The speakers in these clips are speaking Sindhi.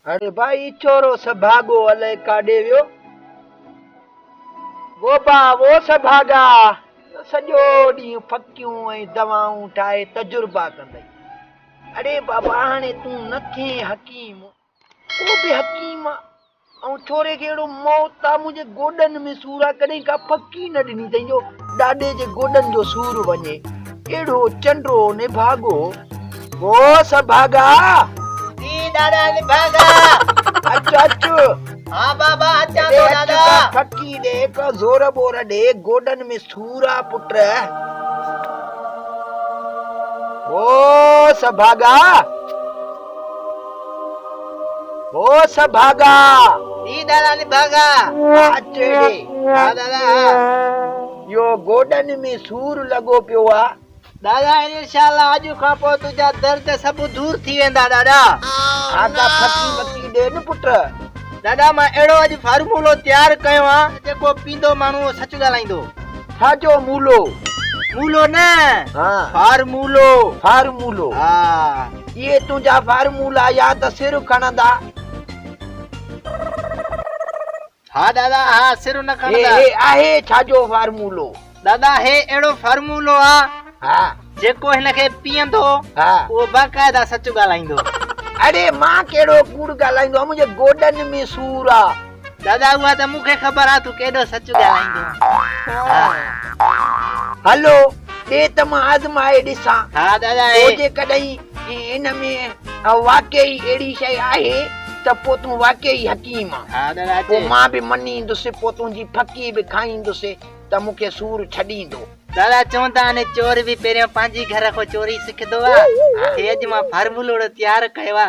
هاڻي ڀائي ڇورو سڀاڳو الائي ڪاڏي ويو ووبا وو سڀاڳا سڄو ڏينهن ڦڪيون ۽ دوائون ٺاهي تجربا ڪندئي اڙي بابا هاڻي تون نه ٿين حڪيم ڪو به حڪيم ۽ ڇوري کي اهڙو موت آ منهنجي گوڏن ۾ سور آ ڪڏهن ڪا ڦڪي نه ڏني اٿئي جو ڏاڏي جي گوڏن جو سور وڃي اهڙو چنڊو نڀاڳو او سڀاڳا جي ڏاڏا نڀاڳا اچ اچ ها بابا اچان ٿو ڏاڏا ڦڪي ڏي ڪا زور بور ڏي گوڏن ۾ سور آ پٽ او سڀاڳا هو سڀ ڀاڳا ٽي ڏاڙا نڀاڳا آج چهڙي ها ڏاڙا ها يو گوڏن ۾ سور لڳو پيو آ ڏاڙا انشاءالله اڄ کان پوء تنهنجا درد سڀ دور ٿي ويندا ڏاڙا آقا ڦڪي مڪي ڏي نه پٽ ڏاڙا مان اهڙو اڄ فارمولو تيار ڪيو آ جيڪو پيندو ماڻهو سچ ڳالهائيندو ڇا جو مولو مولو نه ها فارمولو فارمولو ها اهي تنهنجا فارمولا يا ته سر کڻندا. ها دادا ها سر نه کڻندا. هي آهي ڇا جو فارمولو؟ دادا هي اهڙو فارمولو آ. ها. جيڪو هن کي پيئندو. ها. اهو باقاعده سچ ڳالهائيندو. اڙي مان ڪهڙو ڪوڙ ڳالهائيندو آ منهنجي گوڏن ۾ سور آ. دادا اها ته مون کي خبر آ تون ڪيڏو سچ ڳالهائيندو آهين. هلو ڏي ته مان آزمائي ڏسان. ها دادا هي. پوء جيڪڏهن ان ۾ واقعي ئي اهڙي شيء آهي ته پوء تون واقعي ئي حڪيم آن. ها دادا اچي. پوء مان به مڃيندس، پوء تنهنجي ڦڪي به کائيندس ته مون کي سور ڇڏيندو. دادا چون ته آني چور به پهريان پنهنجي گهر کان چوري سکندو آ. هي اڄ مان فارمولو اهڙو تيار ڪيو آ.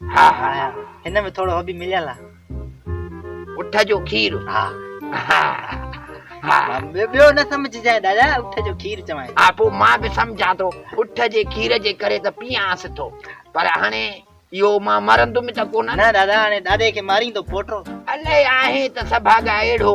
ها ها هن ۾ ٿورو هو به مليل آ. اٺ جو کير ها ها ها ٻيو نه سمجھ جاء دادا اٺ جو کير چوائين ها پو مان به سمجھان ٿو اٺ جي کير جي ڪري ته پيئانس ٿو پر هاڻي اهو مان مرندم ته ڪونه نه دادا هاڻي دادي کي ماريندو پوٽو الائي آهي ته سڀاڳا اهڙو